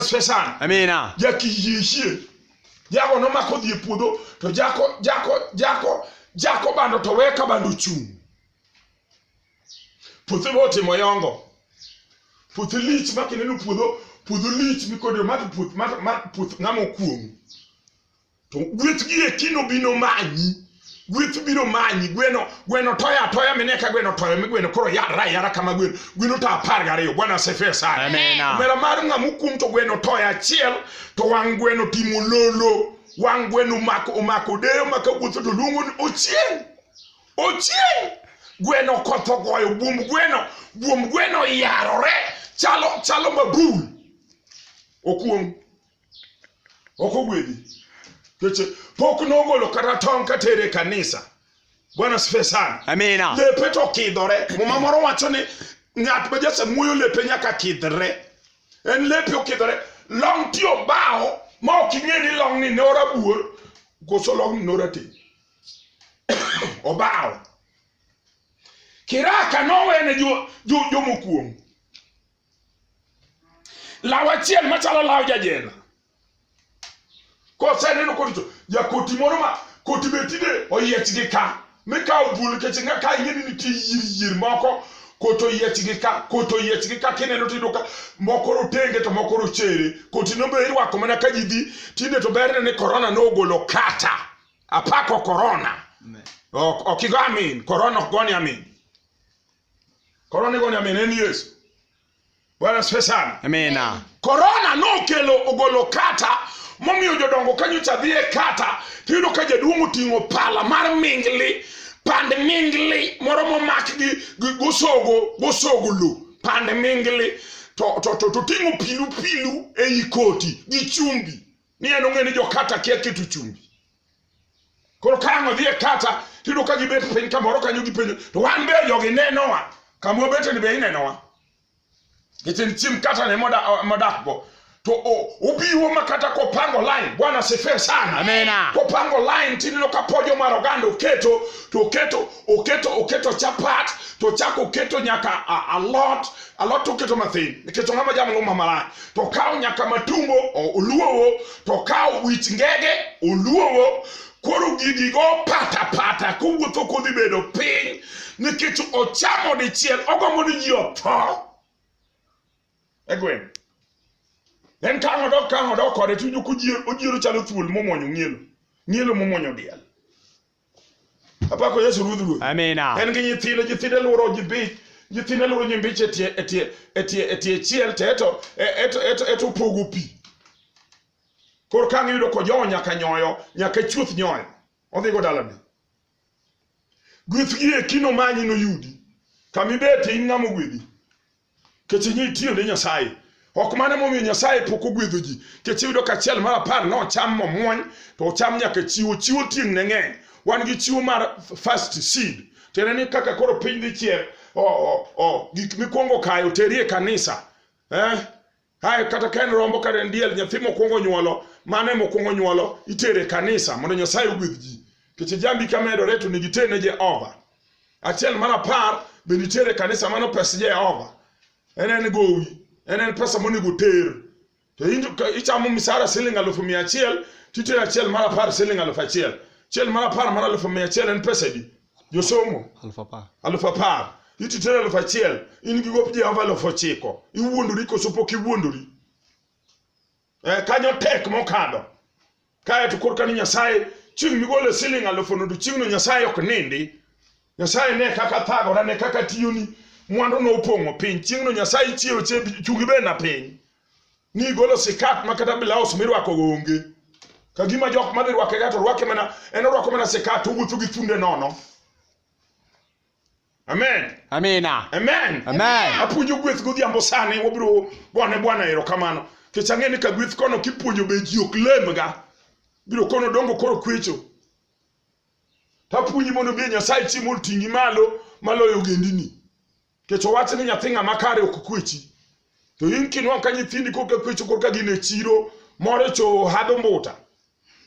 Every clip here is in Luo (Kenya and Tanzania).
nyasre sana Amina. jakiyiyie jago nomako dhi e puodho to jako jako jako jako bando to weye ka bando ochung' puothe bo otimo yongo puothe lich ma kineno puodho puodho lich mikodero ma puoth ma ma- puoth ng'ama okuong'u to gweth gi eki nobino manyi gweth biro manyi gweno gweno toyo atoya mine ka gweno toyo mi gweno koro yara ayara kama gweno gweno to apar gariyo bwana asifiwe sana Amina. mera mar ng'ama okum to gweno toyo achiel to wang' gweno timo lolo wang' gweno omako omako deyo maka wuotho to luongo ni ochieng' ochieng' gweno kotho goyo buomb gweno buomb gweno yarore chalo chalo mabul okuong' ok ogwedhi keche pok nogolo kata tong' katere e kanisa bwana sife sana Amina. lepe to kidhore muma moro wacho ni ng'at ma jasamuoyo lepe nyaka kidhre en lepe okidhore long ti obawo ma ok ing'e ni long ni ne orabuor koso long ni ne orateng' obawo kiraka nowene jo- jo- jomokuongo law achiel machalo law jajela koseneno koricho jakoti moro ma koti be tinde oyiech gi ka mikawo bul keche nga ka ing'e ni nitie yier yier moko koto oyiech gi ka koto oyiech gi ka kineno tiyudo ka moko rotenge to moko rochere koti no be irwako mana ka ji dhi tinde to berne ni korona nogolo kata apako korona ok igo amin korona ok goni amin Korona igoni amin en Yesu. Bwana asifiwe sana. Amina. Korona nokelo ogolo kata momiyo jodongo ka nyocha dhi e kata tiyudo ka jaduong' oting'o pala mar mingli pand mingli moro momak gi gi- gosogo gosogo lo pand mingli to to to to ting'o pilu pilu ei koti gi chumbi ni en ong'e ni jokata kia keto chumbi Koro ka ang' odhi e kata tiyudo ka gibet piny kamoro kanyo gipenjo to wan be jogi nenowa kama wabeteni be inenowa nikech en chiemb kata ne moda- modakgo to o- obiwo ma kata kopango line bwana sifiwe sana Amina. kopango line tineno ka pojo mar oganda oketo to oketo oketo oketo chapat to chako oketo nyaka a- alot alot oketo mathin nikech ong'ama jamluma malach to okawo nyaka matumbo o- oluowo to okawo wich ngege oluowo koro gigi go pata pata kowuotho kodhi bedo piny nikech ochamo dichiel ogombo ni ji otho egwen en ka ng'odo ka ng'odo kode to ojiro chalo thuol momwonyo ng'ielo ng'ielo momwonyo diel Apako Yesu Ruodh Ruoth. Amina. En gi nyithinde, nyithinde luoro nyimbi, nyithinde luoro nyimbiche e tie e tie e tie e tie chiel to eto e- eto eto eto opogo pi. Koro ka ngiyudo ko jowo nyaka nyoyo, nyaka chuth nyoyo. Odhi go dalane. Gweth gi e kino manyi noyudi. Kama ibet in ng'ama ogwedhi. nikech ing'e itiyo ne Nyasaye. Ok mano emomiyo Nyasaye pok ogwedho ji, nikech iyudo ka achiel mar apar nocham momwony, to ocham nyaka chiwo. Chiwo tieng' ne ng'eny. Wan gi chiwo mar first seed, tiende ni kaka koro piny dhi chiek, o- o- o, gik mikwongo kayo teri e kanisa. Eh? Kae kata ka en rombo kata en diel, nyathi mokwongo nyuolo, mane mokwongo nyuolo, itere kanisa mondo Nyasaye ogwedh ji. Nikech jambi ka medore to nigi tene Jehova. Achiel mar apar be nitere kanisa mano pes Jehova. En en gowi, en en pesa monego ter. To in- ka ichamo misara siling alufu mia achiel, titere achiel mar apar siling alufu achiel. Achiel mar apar mar alufu mia achiel en pesa di. josomo Aluf apar. aluf apar iti tero aluf achiel in gi gop jehova aluf ochiko iwuondori koso pok iwuondori eh, kanyo tek mokadho kae to korka ni nyasaye chieng' migole siling aluf onodo chieng'no nyasaye ok nindi nyasaye ne kaka thagora ne kaka tiyoni mwandu no opong'o piny chieng'no nyasaye chiewo che chungi bena piny ni igolo sikat ma kata blaus mirwako go onge ka gima jok madhi rwake ga to rwake mana en orwako mana sikat owuotho gi funde nono amen Amina. amen Amen. apuonjo gweth godhiambo sani wabiro gone bwana erokamano kech ang'e ni ka gweth kono kipuonjo be ji ok lemga biro kono dongo koro kwecho tapuonji mondo bi nyasaye chi mondo ting'i malo maloyo ogendini Kech owach ni nyathi ng'ama kare ok kwechi. To in kinwang' ka nyithindi koka kwecho koka gin e chiro more cho hado mbuta.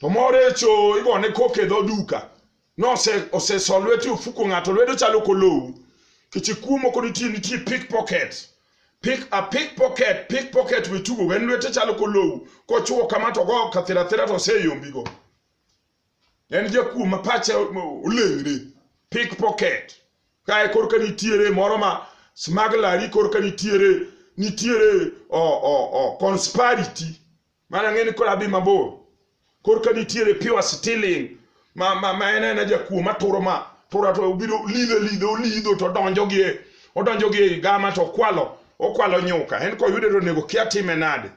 To more cho igone koka e dho duka. Nose oseso lweti ofuko ng'ato lwedo chalo kolowu. Kech ikuomo kod nitie nitie pickpocket. Pick a pickpocket, pickpocket we tugo en lwete chalo kolowu. Kochuo kama to go kathira thira to oseyombigo. en jakuo ma pache oleng're pickpocket kae korka nitiere moro ma smaglari korka nitiere nitiere o, o, o, conspirity mana ng'e ni kola dhi mabor korka nitiere pure stealing ma, ma, ma en ena jakuo maturo ma tura to obiro lidho lidho olidho to donjo gi e- odonjo gi e gama to okwalo okwalo nyuka en koyude to onego kia time nade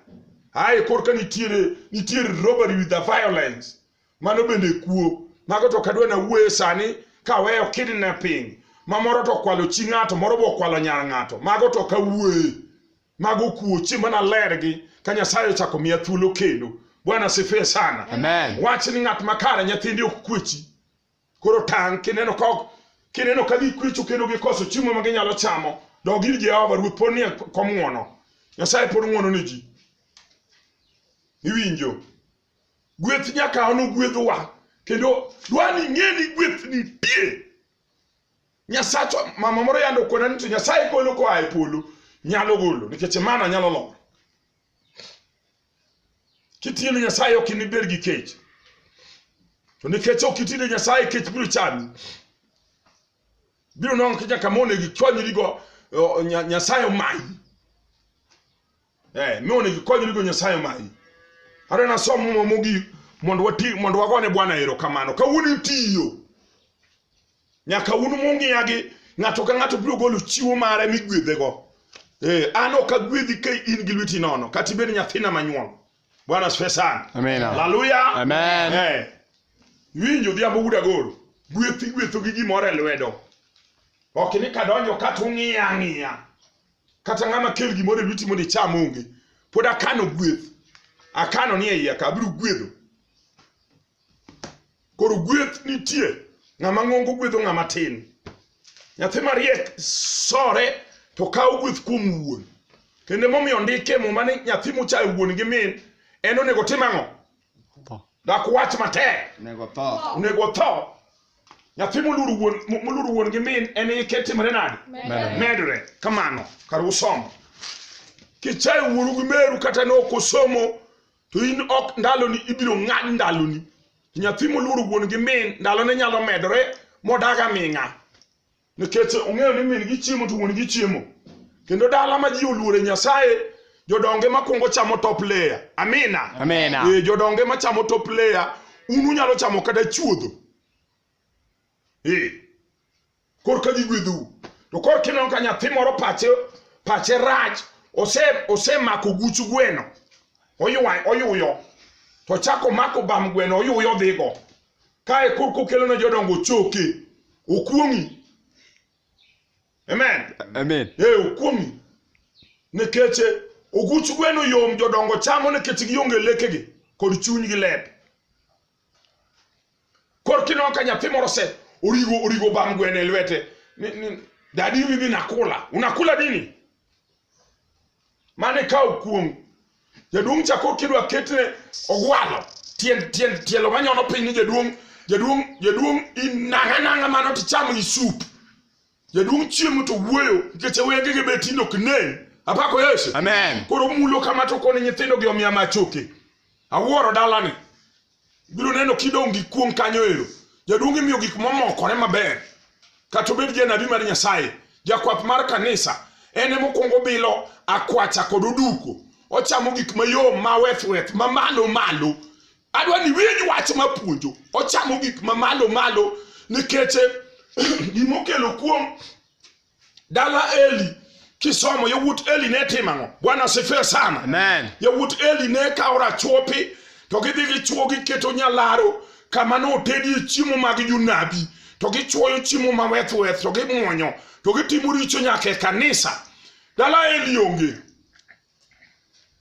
ae korka nitiere nitiere robbery with the violence mano bende kuo mago to kadwa na wuoye sani kaweyo kidnapping ma moro to okwalo chi ng'ato moro be okwalo nyar ng'ato mago to kawuoye mago kuo chi mana lergi ka nyasaye ochako miya thuolo kendo bwana sifie sana Amen. wach ni ng'at makare nyithindi ok kwechi koro tang' kineno ka ok- kineno ka gikwecho kendo gikoso chiemo ma ginyalo chamo dog ir jehova ruoth pod nie kom ng'wono nyasaye pod ng'wono ne ji iwinjo gweth nyaka ono gwedhowa kendo dwa ni ing'e ni gweth nitie nyasachwa mama moro yando kona ni to nyasaye golo koa e polo nyalo golo nikech mana nyalo lor Kitiyo ne Nyasaye ok inibed gi kech. To nikech ok itiyo ne Nyasaye kech biro chami. Biro nongo kija kama onego ikonyrigo o- Nya- Nyasaye omayi. Eh, mi onego ikonyrigo Nyasaye omayi. Are nasom muma mogik mondo wati mondo wagone Bwana erokamano. Kawuono itiyo. Nyaka un mung'iyagi, ng'ato ka ng'ato biro golo chiwo mare migwedhego. Eh, an ok agwedhi ka in gi lweti nono, kata ibed nyathina manyuol. Bwana asifiwe sana. Amina. Haleluya. Amen. Eh, winjo odhiambo wuda goro, gweth igwetho gi gimoro e lwedo. Ok ni kadonjo kata ung'iya ang'iya. Kata ng'ama kel gimoro e lweti mondo icham onge. Pod akano gweth. Akano ni e iya ka abiro gwedho. Koro gweth nitie, ng'ama ng'ongo gwedho ng'ama tin. Nyathi mariek sore to kawo gweth kuom wuon. Kendo emomiyo ondike muma ni nyathi mochayo wuon gi min en onego tim ang'o? Dak wach matek, Nego tho. onego otho. Nyathi moluoro wuon moluoro wuon gi min en ike timore nade? Medre kamano kar usomo. Kichayo wuoru gi meru kata ne ok osomo to in ok ndaloni ibiro ng'ad ndaloni to nyathi moluoro wuon gi min ndalone nyalo medore modag aming'a nikech ong'eyo ni min gi chiemo to wuon gi chiemo kendo dala ma ji oluore nyasaye jodonge makwongo chamo top layer amina Amina. Eh, jodonge machamo top layer un unyalo chamo kata chuodho Eh, korka gigwedhou to korka ineno ka nyathi moro pache pache rach ose osemako guch gweno oywa oyuyo to chako mako bam gweno oyuyo dhigo kae korka okelo ne jodongo choke okuong'i amen Amen. ee okuong'i nikech oguch gweno yom jodongo chamo nikech gionge lekegi kod chunygi lep Koro kineno ka nyathi moro se origo origo bam gwene lwete ni, ni dadi mimi nakula unakula nini mane ka okuong jaduong' chako kidwa ketne ogwalo tiend tiend tielo manyono piny ni jaduong' jaduong' jaduong' inang'anang'a mano tichamo isup Jaduong' chiemo to wuoyo nikech wenge gi beti nok ne. Apako Yesu. Amen. Koro mulo kama to koni nyithindo gi omiya machoke. Awuoro dalani. Biro neno kidong' gi kuong' kanyo ero. Jaduong' imiyo gik momokore maber. Kata obed janabi mar Nyasaye. Jakwath mar kanisa. En ema okuongo bilo akwacha kod oduko. Ochamo gik mayom ma weth weth ma malo malo. adwa ni winj wach mapuonjo ochamo gik mamalo malo nikech gimokelo kuom dala eli kisomo yawuot eli ne timo ang'o bwana sifiwe sana Amen. yawuot eli ne kawo rachuopi to gidhi gichuo giketo nyalaro kama ne otedie chiemo mag jonabi to gichuoyo chiemo ma weth weth to gimwonyo to gitimo richo nyaka e kanisa dala eli onge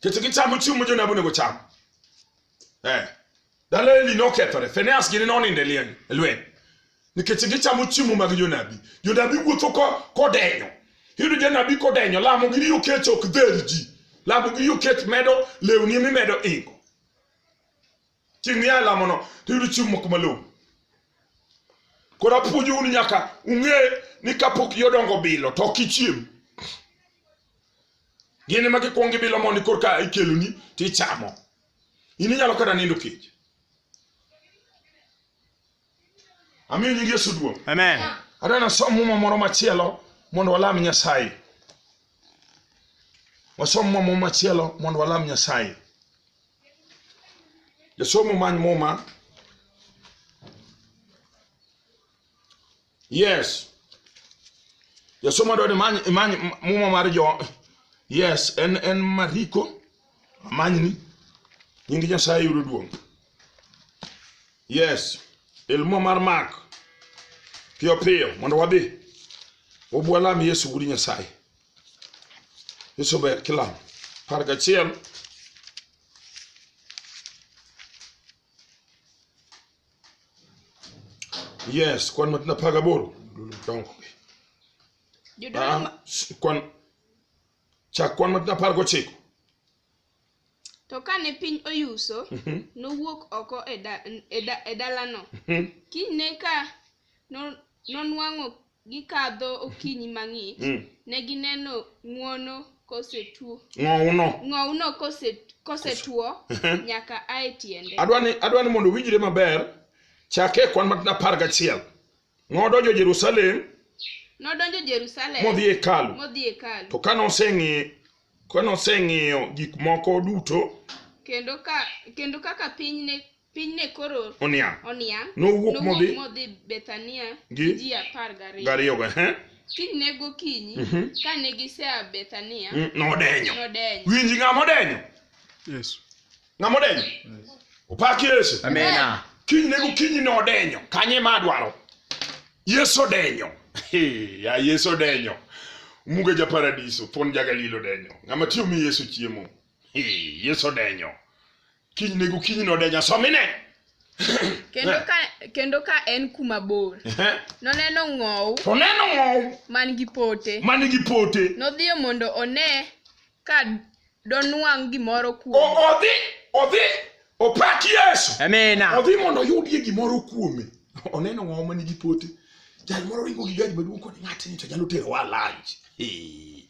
Kech gichamo chiemo ma jonabi onego cham. Eh. Dala Eli nokethore. Finehas gini nonindo e lieny, e lweny. Nikech gichamo chiemo mag jonabi. Jonabi wuotho ko- kodenyo. Iyudo janabi kodenyo, lamo gi riyo kech ok dher ji. Lamo gi riyo kech medo lewni mimedo ingo. chieng' miya lamono to iyudo chiemo moko malong'o koro apuonjou ni nyaka ung'e ni kapok yodongo bilo to ok ichiem gin ema gikwong gibilo mondi korka ikeloni to ichamo in inyalo kata nindo kech Amiyo nyingi Yesu duong'. Amen. Adwa nasom muma moro machielo mondo walam Nyasaye. Wasom muma moro machielo mondo walam Nyasaye. Jasomo many muma. Yes. Jasomo adwa ni many many muma mar jo. Yes, en en Mariko. Amanyni. Nyingi Nyasaye yudo duong'. Yes, ilmo mar mak piyo piyo mondo wadhi wabwalam Yesu wuod Nyasaye. Yesu ber kilam par gachiel yes kwan matin apar gaboro dongo Jodolo ma- Ah, s- kwan chak kwan matin apar gochiko To kane piny oyuso, mhm. nowuok oko e, e, e dalano. Mhm. Kinyne ka nonwang'o gikadho okinyi mang'ich, mm. ne gineno ng'wono kosetuo. Ng'owno. Ng'owno kosetuo mhm. nyaka ae tiende. Adwani adwani mondo winjre maber chake kwan matin apar gachiel. Nodonjo Jerusalem nodonjo Jerusalem modhi e hekalu. modhi e hekalu To kane oseng'i kane oseng'iyo gik moko duto kendo ka kendo kaka piny ne piny ne koro oniang' oniang' Nowuok modhi- modhi Bethania gi gi- ji apar gariyo gariyogo ehe, kinyne gokinyi Mhm. kane gisea Bethania mm, nodenyo. nodenyo Winji ng'ama odenyo. Yesu. ng'ama odenyo opak yesu Amina. kiny ne gokinyi ne odenyo kanye ma adwaro yesu odenyo Hey, ya yesu odenyo muga ja paradiso pon ja galili odenyo ng'ama tiyo mi yesu chiemo Hey, yesu odenyo kiny ne gokinyi ne odenyo somine Kendo ka kendo ka en kuma bor, noneno ng'ow oneno ng'ow man gi pote. man gi pote Nodhiyo mondo one ka donwang' gimoro kuome. O- Odhi, odhi, opak Yesu. Amina. Odhi mondo oyudie gimoro kuome. Oneno ng'awa ma nigi pote. Jal moro ringo gi gari maduong' kod ng'atni to nyalo terowa lunch. Eh,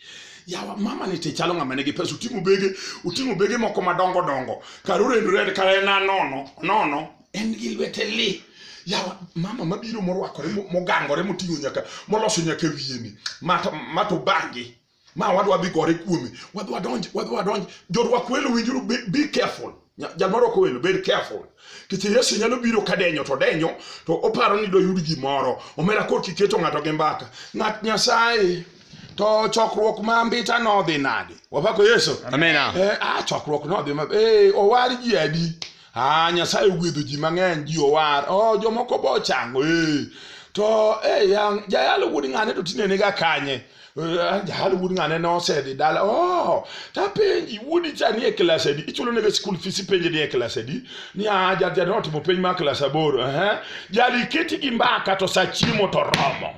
Yawa mama ni te chalo ng'ama nigi pesa uting'o bege uting'o bege moko madongo dongo kar orendore kar en anono nono en gi lwete li yawa mama mabiro morwakore mo- mogangore moting'o nyaka moloso nyaka wiyeni mato mato bangi ma wadwa dhi gore kuome wadwa donj wadwa donj jorwak welo winjuru be, be careful Nya- jal marwako welo bed careful nikech yesu nyalo biro ka denyo to denyo to oparo ni doyud gimoro omera kor kiketo ng'ato gi mbaka ng'at nyasaye to chokruok ma mbita nodhi nade wapako yesu Amina. Eh, ah, chokruok nodhi ma eh, owar ji adi ah nyasaye ogwedho ji mang'eny ji owar oh jomoko bo chango eh to eh yang jayalo wuod ng'ane to tinene ga kanye Eh, jayalo wuod ng'ane ne osedhi dala oh tapenji wuodi cha ni e klas adi ichulo nega school fees ipenje ni e klas adi ni ah ja ja notimo penj mar klas aboro eh jali keti gi mbaka to sa chiemo to romo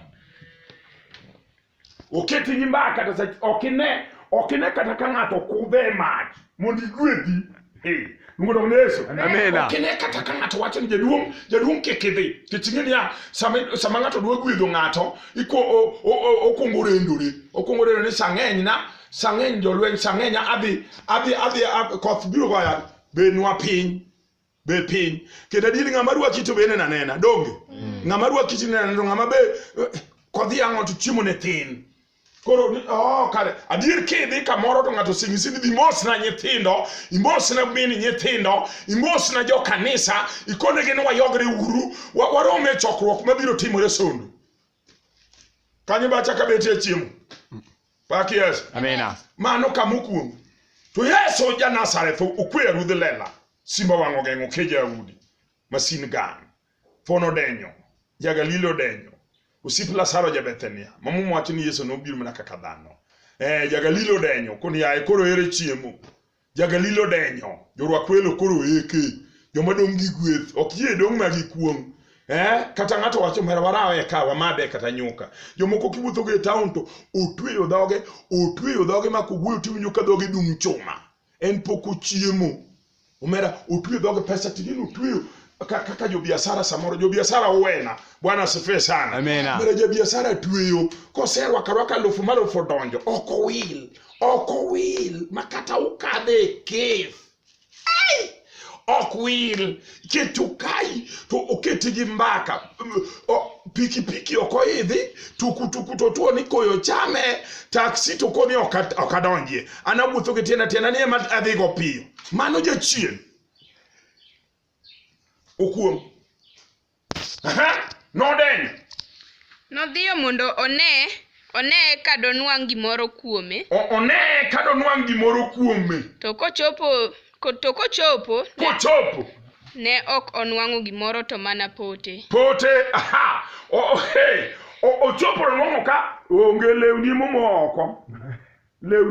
oket gi mbaka kata sa ok ine ok ine kata ka ng'ato kudhe e mach mondo igwedhi Eh, luongo dong ne yesu Amina. ok ine kata ka ng'ato wacho ni jaduong' jaduong' kik idhi kech ing'e niya sama sama ng'ato dwa gwedho ng'ato iko- o- o- o- okwongo orendore okwongo orendore ni sang'eny na sang'eny jolweny sang'eny adhi adhi adhi a- koth biro goya benwa piny be piny kendo adier ng'ama rwaki to be nena nena donge ng'ama rwaki to nena to ng'ama be eh, kodhi ang'o to chiemo ne thin koro ni- oh, kare adier kidhi kamoro to ng'ato singisi ni dhi mosna nyithindo imosna mini nyithindo imosna jo kanisa ikonegi ni wayogre uru wa- warom e chokruok mabiro timore sondo kanyo bacha ka betie chiemo pak yesu Amina. mano kama okuongo to yesu ja nazareth okweya ruodh lela simba wang'o geng'o ke jaudi masin gang fon odenyo jagalili odenyo osip lasaro ja bethania mamum wacho ni yesu nobiro mana kaka dhano eh, jagalili odenyo koni yaye koro ere chiemo Jagalili odenyo, jorwak welo koro eke, joma dong' gi gweth, ok yie dong' ma gi kuong'. Eh, kata ng'ato wacho mera warawe ka wamade kata nyuka. Jomoko kiwuotho go e town to otweyo dhoge, otweyo dhoge ma kowuoyo tiwinjo ka dhoge dung' chuma. En pok ochiemo. Omera otweyo dhoge pesa tineno otweyo ka- kaka jobiasara samoro jobiasara uwena bwana asifiwe sana Amina. Omera jabiasara tweyo koserwaka rwaka alufu malufu odonjo ok owil ok owil ma kata ukadhe e kif ok wil keto kai to oketi gi mbaka pikipiki ok oidhi tukutuku to tuo ni koyo chame taksi to koni ok adonjie an awuotho gi tienda tienda ni ema adhigo piyo mano jachien okuong' Aha, nodenyo. Nodhiyo mondo one, one ka donwang' gimoro kuome. O- Oneye ka donwang' gimoro kuome. To kochopo, ko- to kochopo, ne, Kochopo. ne ok onwang'o gimoro to mana pote. Pote, aha. O- o- hey, o- Ochopo nonwang'o ka onge lewni momo oko. Lewni